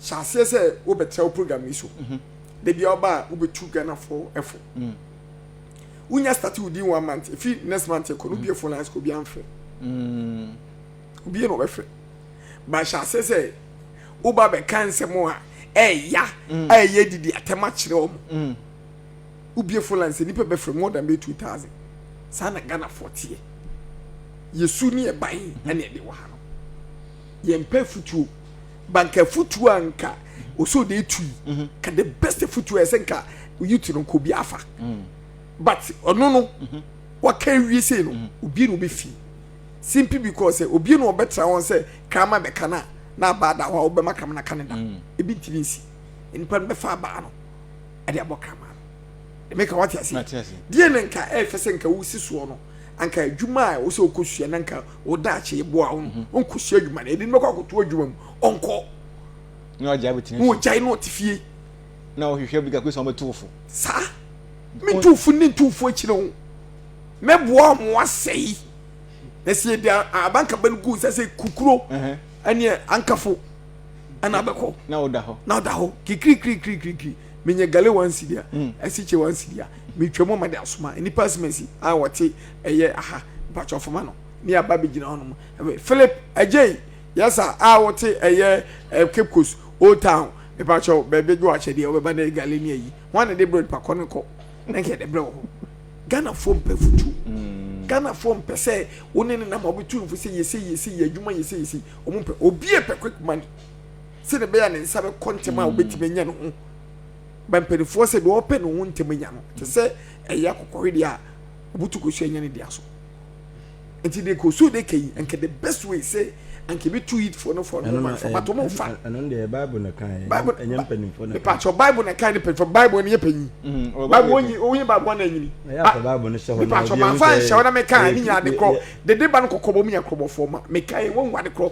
hyɛ aseɛ sɛ wobɛtra wo program yi so mhm. da bia woba a wobɛtu ghanafoɔ ɛfo mm. wonya starte wo din one month ɛfi next month ɛkɔ no wobiɛ fo lines kɔ obia mfrɛ obie na ɔbɛfrɛ ba hyɛ aseɛ sɛ woba bɛka nsɛm a ɛɛya mm. a ɛyɛ didi atɛm akyerɛ ɔmo mm. wobie fo lines nnipa bɛfrɛ more than bɛ 2000 saa na ghanafoɔ teɛ yɛsu ne ɛban ɛne ɛde wɔ ha no yɛmpɛ futuo ba nka futuo a nka ɔsɛ ɔde tu yi mhm. ka the best futuo a ɛsɛ nka youth no nka obi afa mm. but ɔno no mhm. waka awie sei no mhm. obi na ɔbɛfi simply because eh, obi na ɔbɛtra wɔn sɛ kama bɛka no a na abaa da hɔ a wobɛma kama no ka ne da mm. ebi ntumi nsi nnipa no bɛfa abaa no ɛde abɔ kama no ɛmɛka wate ase deɛ ne nka ɛfɛ sɛ nka wosi soɔ no anka adwuma a ɛwɔ sɛ ɔkɔsua na anka wo daakye boa wo no mhm. ɔnkɔsua adwuma no ɛde no bɛkɔ akɔto adwuma mu ɔnkɔ na ɔgyae bɛtena fie ɔgyae na ɔte fie na ɔhwehwɛ bi kakɔ sɛ ɔbɛto wo fo saa meto fo ne nto fo akyirɛ wo mɛboa ɔmo asɛe na sɛ yɛde abankaba no gu sɛ sɛ kukuro ɛneɛ ankafo ɛna bɛkɔ na ɔda hɔ na ɔda hɔ kikirikirikirikiri menya gale one cedi a hmm. asikyɛ one cedi a metwa mu ama de asoma nnipa asemasi a wɔte ɛyɛ aha mpakyɛ ɔfama no ne aba bɛgyina hɔ nom philip agyei yɛsa a wɔte ɛyɛ eh, cape coast old town mepakyɛ baabi gye wakyɛdeɛ wɔbɛba ne gale ne ayi ho ane de brɛd pakɔ no kɔ na nka yɛde brɛ wɔ hɔ ghanafoɔ mpɛ futu hmm. ghanafoɔ mpɛ sɛ wo ne ne nam a wɔbɛtu mfo sɛ yɛsɛ yɛsɛ yɛ adwuma yɛsɛ yɛsɛ wɔn mpɛ obi pɛ quick money sɛdeɛ ɛbɛyɛ a ne nsa bɛkɔ ntɛm a wobɛtumi anya ne ho ba mpanimfoɔ sɛ deɛ ɔpɛ ne ho ntɛm anya no te sɛ ɛyɛ akokɔhwedeɛ a obutu kɔ so anya ne dea so nti de kɔ so de ka yi nka the best way sɛ anka ebi tu yit for no for no ma fa bato mo fa ɛno deɛ bible na kan ɛnyɛ mpanimfoɔ na kan patro bible na kan ne mpanimfoɔ bible ne yɛ panyin mm-hmm. bible onyi onyi bible na enyini bible ne hyɛ hɔ na patro ma fa nhyɛ hɔ na meka ne nyɛ ade korɔ dede ba no kɔkɔbɔ mu yɛ korɔbɔfoɔ ma meka yi wɔn ade korɔ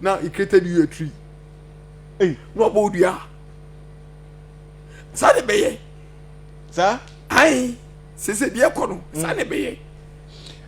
Na he created you a tree. Ei, na ɔbɔ wo dua. Saa na ɛbɛyɛ. Saa. Ae, sese deɛ kɔ no, saa na ɛbɛyɛ.